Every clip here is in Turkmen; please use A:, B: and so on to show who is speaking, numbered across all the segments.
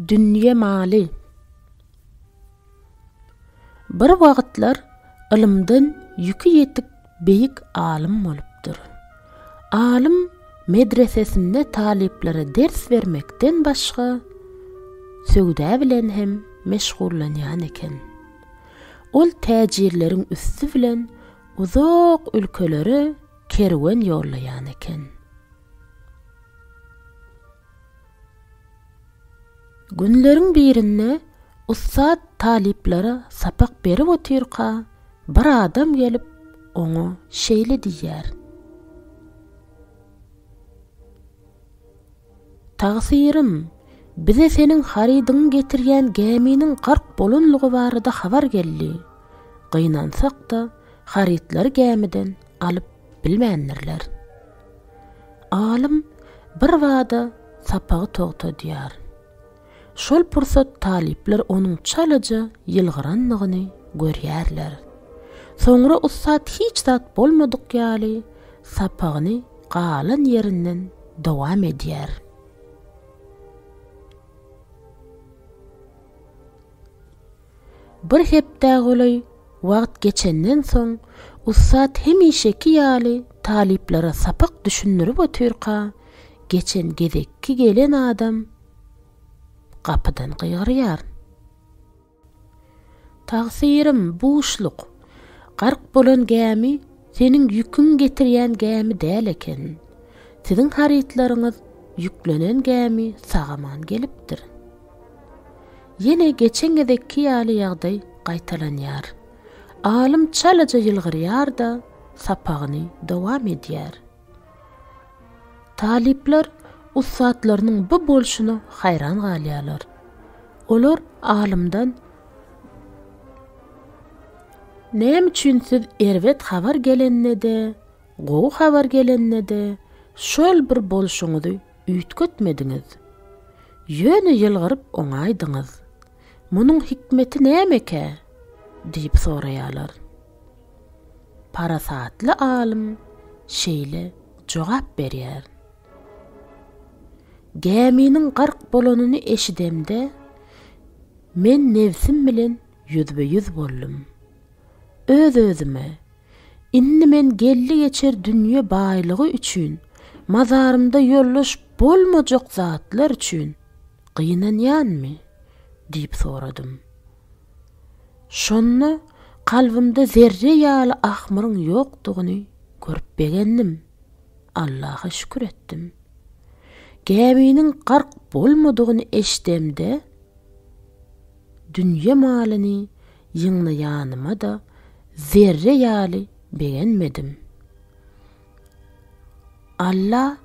A: Dünýe maly. Bir wagtlar ylymdan ýüki ýetik beýik alym bolupdyr. Alym medresesinde talyplara ders bermekden başga, söwda bilen hem meşgullanýan eken. Ol täjirleriň üsti bilen uzak ülkelere kerwen ýollaýan eken. Günleriň birinde ussat talyplara sapak berip otyrka, bir adam gelip, oňa şeýle diýýär. Tagsyrym, bize seniň harydyňy getirýän gäminiň gark bolanlygy barada habar geldi. Gynansak-da, harytlary gämiden alyp bilmändirler. Alym birbada sapagy togtadýar. Şol pursat talyplar onuň çalaja ýylgyrandygyny görýärler. Soňra ussat hiç zat bolmadyk ýaly sapagyny galan ýerinden dowam edýär. Bir hepdä golaý wagt geçenden soň, ussat hemişeki ýaly talyplara sapak düşündirip otyrka, geçen gezekki gelen adam, Gapydan gygyrýaryn. Tagsyrim, buşluk. Gark bolan gämi seniň ýüküň getirýän gämi däl eken. Siziň harytlaryňyz ýüklenen gämi sag-aman gelipdir. Ýene geçen gezekki ýaly ýagdaý gaýtalanýar. Alym çalaja ýylgyrýar-da, sapagyny dowam edýär. Talyplar ussatlarynyň bu bolşuna haýran galýarlar. Olar alymdan Näme üçin siz erbet habar gelende-de, gowy habar gelende-de şol bir bolşuňyzy üýtgetmediňiz? Ýöne ýylgyryp oňaýdyňyz. Munuň hikmeti nämekä? diýip soraýarlar. Parasatly alym şeýle jogap berýär, Gäminiň gark bolanyny eşidemde, men nebsim bilen ýüzbe-ýüz boldum. Öz-özüme, Indi men geldi-geçer dünýe baýlygy üçin, mazarymda ýoldaş bolmajak zatlar üçin gynanýanmy? diýip soradym. Şonda kalbymda zerre ýaly ahmyryň ýokdugyny görüp begendim. Allaha şükür etdim. Gäminiň gark bolmadygyny eşidemde, dünýe-malyny ýygnaýanyma-da zerre ýaly begenmedim. Alla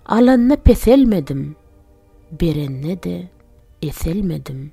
A: alanda peselmedim, berende-de eselmedim.